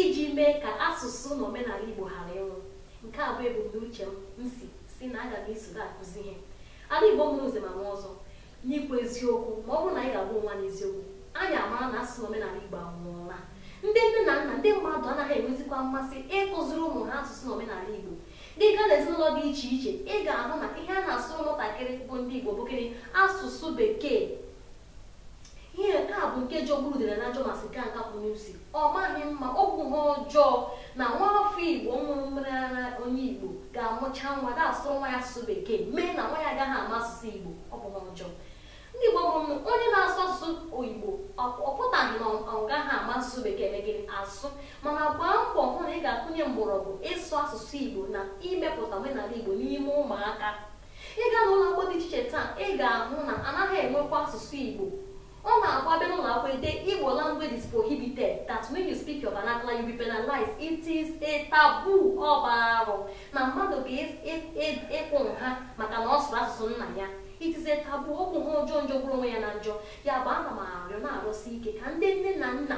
iji mee ka asụsụ na omenala Igbo ghara ịnwụ nke a bụ ebumnuche m m si sị na aga m isoro akụzi ihe ala Igbo mụrụ nze ma nwa ọzọ n'ikwu eziokwu ma ọ bụrụ na anyị ga-agwa onwe anyị eziokwu anyị amara na asụsụ na omenala Igbo anwụọla ndị nne na nna ndị mmadụ anaghị enwezikwa mmasị ịkụziri ụmụ ha asụsụ na omenala Igbo gị gaa n'ezinụlọ dị iche iche ị ga-ahụ na ihe a na-asụrụ ụmụntakịrị bụ ndị Igbo bụkarị asụsụ bekee ihe nke a bụ nke jọgburu udele na njọ ma sikaa nkakwụ n'isi ọ maghị mma ọ bụ ihe ọjọọ na nwa afọ igbo ṅụrụ mmiri ara onye igbo ga-amụcha nwa na-asụ nwa ya asụsụ bekee mee na nwa ya agaghị ama asụsụ igbo ọ bụ ihe ọjọọ na ị bụ onye na-asụ asụsụ igbo ọ ọ pụtaghị na ọ- ọ gaghị ama asụsụ bekee eme gịnị asụ mana gbaa mbọ hụ na ị ga-akụnye mgbọrọgwụ ịsụ asụsụ igbo na imepụta omenala igbo n'ime ụmụaka ị gaa n'ụlọ akwụkwọ dị iche iche taa ị ga-ahụ na anaghị enwekwa asụsụ igbo ọ na-abụ a bịa n'ụlọ akwụkwọ e dee igbo language is prohibited that when you speak your vernacular you be penalized it is a taboo ọ bụ arụ na mmadụ ga ịkwụ nha maka na ọ sụrụ asụsụ nna ya it is a taboo ọ bụ ihe ọjọọ jọgburu onwe ya na njọ ya bụ ana m arịọ na-arịọsi ike ka ndị nne na nna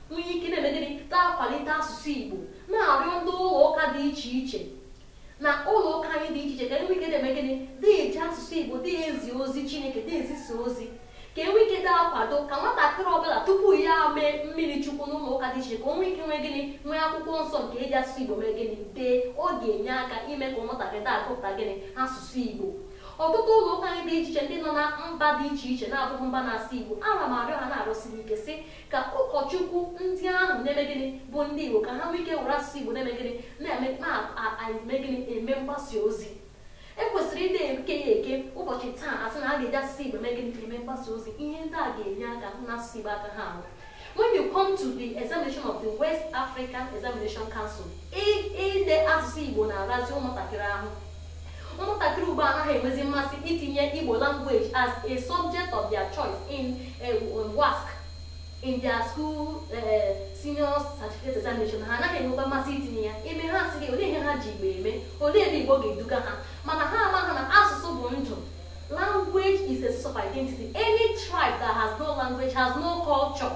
nwee ike na-eme gịnị na-akwalite asụsụ igbo na-arịọ ndị ụlọ ụka dị iche iche na ụlọ ụka anyị dị iche iche ka e nwee ike dị eme gịnị dị eji asụsụ igbo dị ezi ozi chineke dị ezisa ozi ka e nwee ike dị akwado ka nwatakịrị ọbụla tupu ya mee mmiri chukwu n'ụlọ ụka dị iche iche ka o nwee ike nwee gịnị nwee akwụkwọ nsọ nke e ji asụsụ igbo mee gịnị dee ọ ga-enye aka ime ka nwatakịrị dị agụpụta gịnị asụsụ igbo ọtụtụ ụlọ ụka anyị dị iche iche ndị nọ na mba dị iche iche na-abụghị mba na-asụ igbo ana m arịọ ha na-arịọsi ike sị ka ụkọchukwu ndị ahụ na-eme gịnị bụ ndị Igbo ka ha nwee ike were asụsụ Igbo na-eme gịnị na-eme na-eme gịnị eme mgbasa ozi e kwesịrị ịdị eke ya eke ụbọchị taa a sị na a ga-eji asụsụ Igbo eme gịnị eme mgbasa ozi ihe ndị a ga-enye aka hụ na asụsụ Igbo agaghị anwụ when you come to the examination of the West African Examination Council ide asụsụ Igbo na-arazi ụmụntakịrị ahụ ụmụntakịrị ugbu a anaghị enwezi mmasị itinye igbo language as a subject of their choice in eh, um, WASC in their school eh, senior certificate examination ha anaghị enwekwa mmasị itinye ya ime ha sị gị olee ihe ha ji igbo eme olee ebe igbo ga-eduga ha mana ha amaghị na asụsụ bụ ndụ language is a source of identity any tribe that has no language has no culture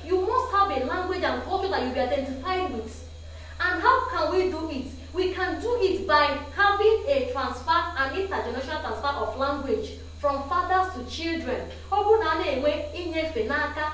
you must have a language and culture that you be identified with And how can we do it? We can do it by having a transfer, an intergenerational transfer of language from fathers to children. Ọ bụrụ na a na-enwe inyefe n'aka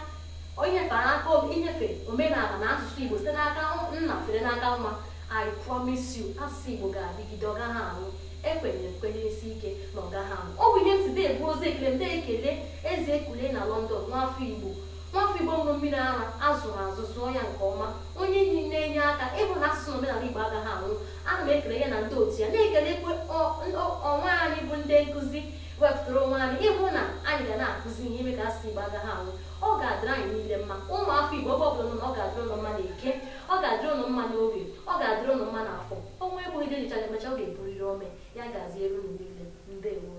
inyefe n'aka inyefe omenala na asụsụ Igbo site n'aka nna fere n'aka nwa I promise you asụsụ Igbo ga-adịgide ọ gaghị anwụ ekwenyere ekwenyesi ike na ọ gaghị anwụ ọ bụ ihe m si dị ebu ozi ekele m dị ekele eze ekule na London nwa afọ Igbo nwafọ igbo ṅụrụ mmiri ara a zụrụ azụ zụọ ya nke ọma onye enyi na-enye aka ịhụ na asụsụ na omenala igbo agaghị anwụ ana m ekele ya na ndị otu ya na-ekelekwa ọ- ọ- onwe anyị bụ ndị nkụzi wepụtara onwe anyị ịhụ na anyị ga na-akụzi ihe ime ka asụsụ igbo agaghị anwụ ọ ga-adịrị anyị niile mma ụmụafọ igbo ebe ọ bụla ụnụ nọ ọ ga-adịrị ụnụ mma n'eke ọ ga-adịrị ụnụ mma n'oye ọ ga-adịrị ụnụ mma n'afọ ọnwụ egbughị ji e ji chụọ aja emecha ọ ga-epuriri ome ya gaziere ụnụ niile ndewo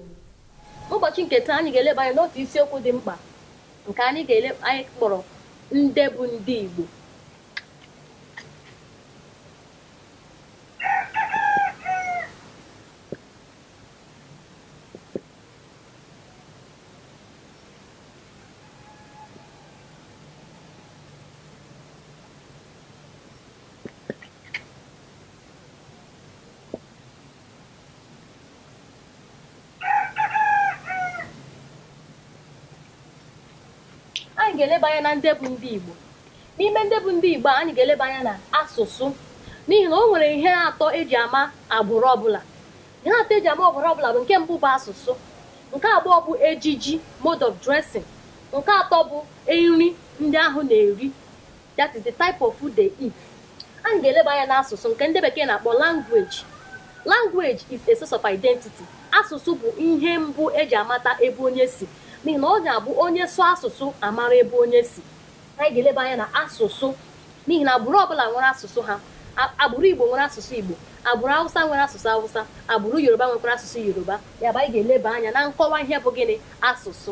ụbọchị nke taa anyị ga-eleba anya n'otu isiokwu dị mkpa nke anyị ga-ele anyị kpọrọ ndị bụ ndị Igbo anyị ga-eleba anya na ndị bụ ndị Igbo n'ime ndị bụ ndị Igbo anyị ga-eleba anya na asụsụ n'ihi na o nwere ihe atọ eji ama agbụrụ ọbụla ihe atọ eji ama agbụrụ ọbụla bụ nke mbụ bụ asụsụ nke abụọ bụ ejiji mode of dressing nke atọ bụ nri ndị ahụ na-eri that is the type of food they eat anyị ga-eleba anya n'asụsụ nke ndị bekee na-akpọ language language is a source of identity asụsụ bụ ihe mbụ eji amata ebe onye si n'ihi na ọ na-abụ onye sụọ asụsụ amara ebe onye si anyị ga-eleba anya na asụsụ n'ihi na agbụrụ ọbụla nwere asụsụ ha agbụrụ igbo nwere asụsụ igbo agbụrụ awụsa nwere asụsụ awụsa agbụrụ yoruba nwekwara asụsụ yoruba ya bụ anyị ga-eleba anya na nkọwa ihe bụ gịnị asụsụ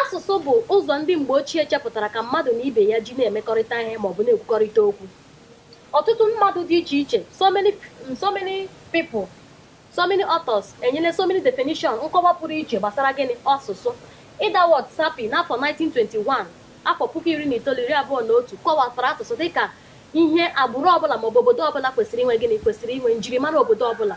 asụsụ bụ ụzọ ndị mgbe ochie chepụtara ka mmadụ na ibe ya ji na-emekọrịta ihe maọbụ na-ekwukọrịta okwu ọtụtụ mmadụ dị iche iche so many so many people So many authors enyela so many definition nkọwa pụrụ iche gbasara gịnị asụsụ. Edward Sapir n'afọ 1921 afọ puku iri na itoolu iri abụọ na otu kọwatara asụsụ dịka ihe agbụrụ ọbụla maọbụ obodo ọbụla kwesịrị inwe gịnị kwesịrị inwe njirimara obodo ọbụla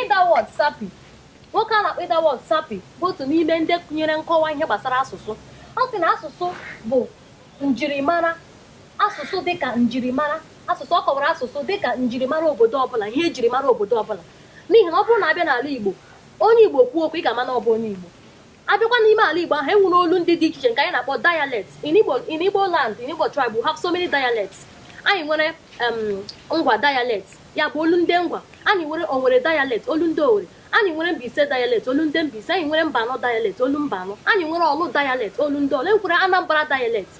Edward Sapir nwoke a na-akpọ Edward Sapir bụ otu n'ime ndị ahụ nyere nkọwa ihe gbasara asụsụ ọ sị na asụsụ bụ njirimara asụsụ dịka njirimara asụsụ ọ kọwara asụsụ dịka njirimara obodo ọbụla ihe ejirimara obodo ọbụla n'ihi na ọ bụrụ na abịa n'ala Igbo onye Igbo kwuo okwu ị ga-ama na ọ bụ onye Igbo abịakwa n'ime ala Igbo ahụ enwere olu ndị dị iche iche nke anyị na-akpọ dialect in Igbo in Igbo land in Igbo tribe we have so many dialects anyị nwere ngwa dialect ya bụ olu ndị ngwa anyị nwere Owere dialect olu ndị owere anyị nwere Mbaise dialect olu ndị Mbaise anyị nwere Mbano dialect olu Mbano anyị nwere Ọlụ dialect olu ndị Ọlụ enwere Anambra dialect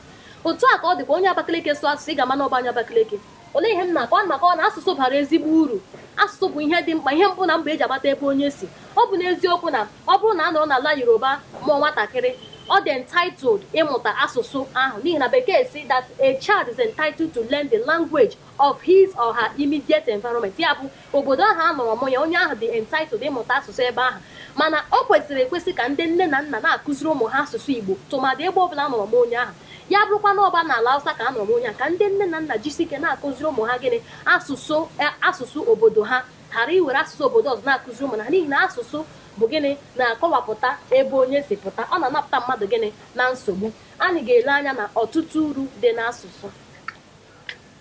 otu a ka ọ dịkwa onye Abakaliki sụọ asụsụ ị ga-ama na ọ bụ onye Abakaliki olee ihe m na-akọ ana m akọwa na asụsụ bara ezigbo uru asụsụ bụ ihe dị mkpa ihe mbụ na mbụ eji amata ebe onye si ọ bụ n'eziokwu na ọ bụrụ na a nọrọ n'ala yoruba mụọ nwatakịrị ọ dị entitled ịmụta asụsụ ahụ n'ihi na bekee sị that a child is entitled to learn the language of his or her immediate environment ya bụ obodo ahụ a nọrọ mụọ ya onye ahụ dị entitled ịmụta asụsụ ebe ahụ mana ọ kwesịrị ekwesị ka ndị nne na nna na-akụziri ụmụ ha asụsụ igbo tụmadị ebe ọbụla a nọrọ mụọ onye ahụ ya bụrụkwa na ọ bụ n'ala awụsa ka a nọrọ mụọ onye ahụ ka ndị nne na nna jisi ike na-akụziri ụmụ ha gịnị asụsụ eh, asụsụ obodo ha ghara iwere asụsụ obodo ọzọ na-akụziri ụmụ ha n'ihi na asụsụ bụ gịnị na-akọwapụta ebe onye si pụta ọ na-anapụta mmadụ gịnị na nsogbu anyị ga-ele anya na ọtụtụ uru dị n'asụsụ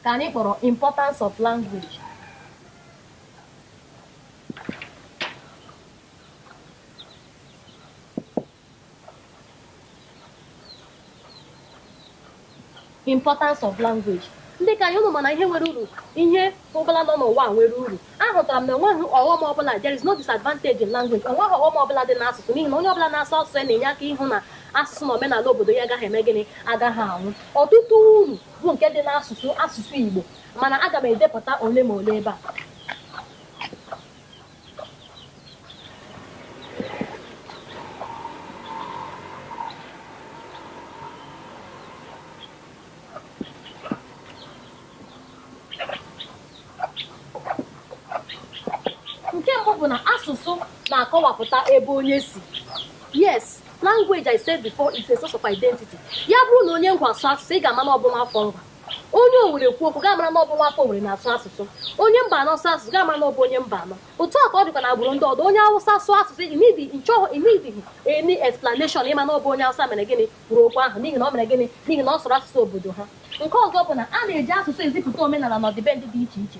ka anyị kpọrọ importance of language importance of language dịka anyị ụnụ ma na ihe nwere uru ihe ọbụla nọ n'ụwa a nwere uru ahụtara m na enweghị ọghọm ọbụla there is no disadvantage in language enweghị ọghọm ọbụla dị n'asụsụ n'ihi na onye ọbụla na-asụ asụsụ ya na-enye aka ịhụ na asụsụ na omenala obodo ya agaghị eme gịnị agaghị anwụ ọtụtụ uru bụ nke dị n'asụsụ asụsụ Igbo mana aga m edepụta ole ma ole ebe a nke mbụ bụ na asụsụ na-akọwapụta ebe onye si yes language I said before is a source of identity. ya bụrụ na onye ngwa asụọ asụsụ ị ga-ama na ọ bụ nwa afọ ngwa onye owere kwuo okwu ị ga-amara na ọ bụ nwa afọ owere na-asụ asụsụ onye Mbano sụọ asụsụ ị ga-amara na ọ bụ onye Mbano otu a ka ọ dịkwa na agbụrụ ndị ọdọ onye awụsa sụọ asụsụ i need ị chọghị i needighi any explanation ịma na ọ bụ onye awụsa mere gịnị kwuru okwu ahụ n'ihi na ọ mere gịnị n'ihi na ọ sụrụ asụsụ obodo ha nke ọzọ bụ na a na-eji asụsụ ezipụta omenala na ọdịbendị dị iche iche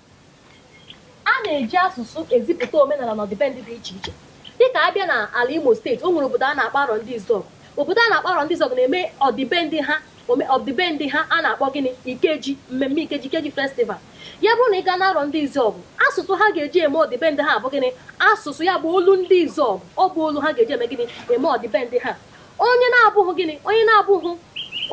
a na-eji asụsụ ezipụta omenala na ọdịbendị dị iche iche dịka abịa na ala Imo steeti o nwere obodo a na-akpọ Arọndizuọgụ obodo a na-akpọ Arọndizuọgụ na-eme ọdịbendị ha ome- ọdịbendị ha a na-akpọ gịnị ikeji mmemme ikeji ikeji festival ya bụrụ na ị gaa na Arọndizuọgụ asụsụ ha ga-eji eme ọdịbendị ha bụ gịnị asụsụ ya bụ olu ndị Izuọgụ ọ bụ olu ha ga-eji eme gịnị eme ọdịbendị ha onye na-abụghị gịnị onye na-abụghị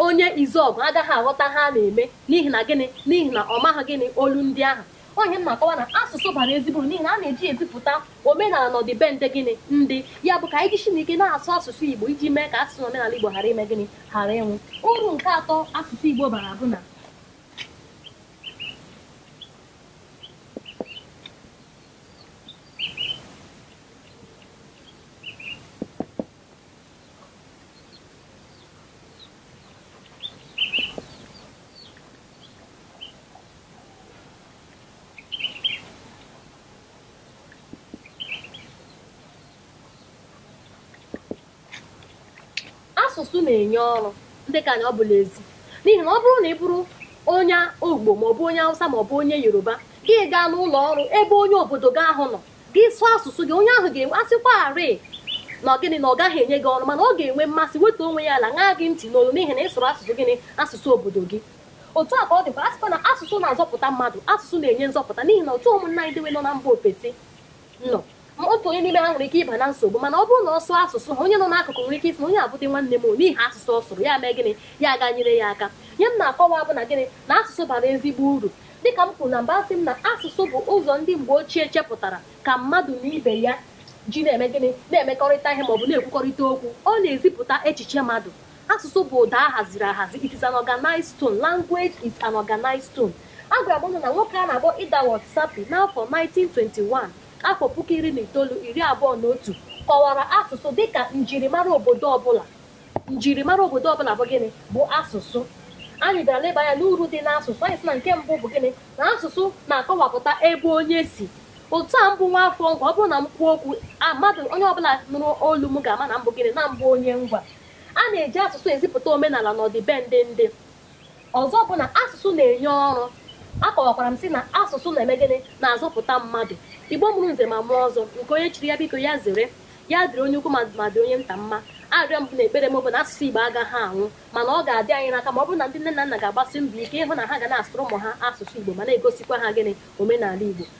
onye izuọgụ agaghị aghọta ihe a na-eme n'ihi na gịnị n'ihi na ọ maghị gịnị olu ndị ahụ onye na-akọwa na asụsụ bara ezigbo n'ihi na a na-eji ezipụta omenala na ọdịbendị gịnị ndị ya bụ ka anyị jisi n'ike na-asụ asụsụ igbo iji mee ka asụsụ omenala igbo ghara ime gịnị ghara ịnwụ uru nke atọ asụsụ igbo bara bụ na asụsụ na-enye ọrụ ndị nke anyị ọ bụ l'ezi n'ihi na ọ bụrụ na ị bụrụ onye igbo maọbụ onye hausa maọbụ onye yoruba gị gaa n'ụlọ ọrụ ebe onye obodo gị ahụ nọ gị sụọ asụsụ gị onye ahụ ga-enwe a sịkwarị na gịnị na ọ gaghị enye gị ọrụ mana ọ ga-enwe mmasị wetuo onwe ya ala ṅaa gị ntị n'olu n'ihi na ị sụrụ asụsụ gịnị asụsụ obodo gị otu a ka ọ dịkwa asịkwa na asụsụ na-azọpụta mmadụ asụsụ na-enye nzọpụta n'ihi na otu ụmụnna anyị dewe nọ na mba ofesi nọ ma otu onye n'ime ha nwere ike ịba na nsogbu mana ọ bụrụ na ọ sụọ asụsụ ha onye nọ n'akụkụ nwere ike ịsị na onye a bụdị nwanne m n'ihi asụsụ ọ sụrụ ya mee gịnị ya aga nyere ya aka ihe m na-akọwa bụ na gịnị na asụsụ bara ezigbo uru Dịka m kwuru na mbụ asị m na asụsụ bụ ụzọ ndị mgbe ochie chepụtara ka mmadụ na ibe ya ji na-eme gịnị na-emekọrịta ihe maọbụ na-ekwukọrịta okwu ọ na-ezipụta echiche mmadụ asụsụ bụ ụda a haziri ahazi it is an organized tone language is an organized tone agwara m ụnụ na nwoke a na-akpọ Edward Sapir n'afọ 1921 afọ puku iri na itoolu iri abụọ na otu kọwara asụsụ dịka njirimara obodo ọbụla njirimara obodo ọbụla bụ gịnị bụ asụsụ anyị bịara leba anya n'uru dị n'asụsụ anyị sị na nke mbụ bụ gịnị na asụsụ na-akọwapụta ebe onye si otu a m bụ nwa afọ ngwa ọ bụrụ na m kwuo okwu a mmadụ onye ọbụla nụrụ olu m ga-ama na m bụ gịnị na m bụ onye ngwa a na-eji asụsụ ezipụta omenala na ọdịbendị ndị ọzọ bụ na asụsụ na-enye ọrụ akọwakwara m sị na asụsụ na-eme gịnị na-azọpụta mmadụ igbo mụrụ nze ma mụọ ọzọ nke onye chiri ya biko ya zere ya dịrị onye ukwu mma dị onye nta mma arịrịọ m na ekpere m bụ na asụsụ igbo agaghị anwụ mana ọ ga-adị anyị n'aka ma ọ bụrụ na ndị nne na nna ga-agbasi mbọ ike ịhụ na ha ga na-asụrụ ụmụ ha asụsụ igbo ma na-egosikwa ha gịnị omenala igbo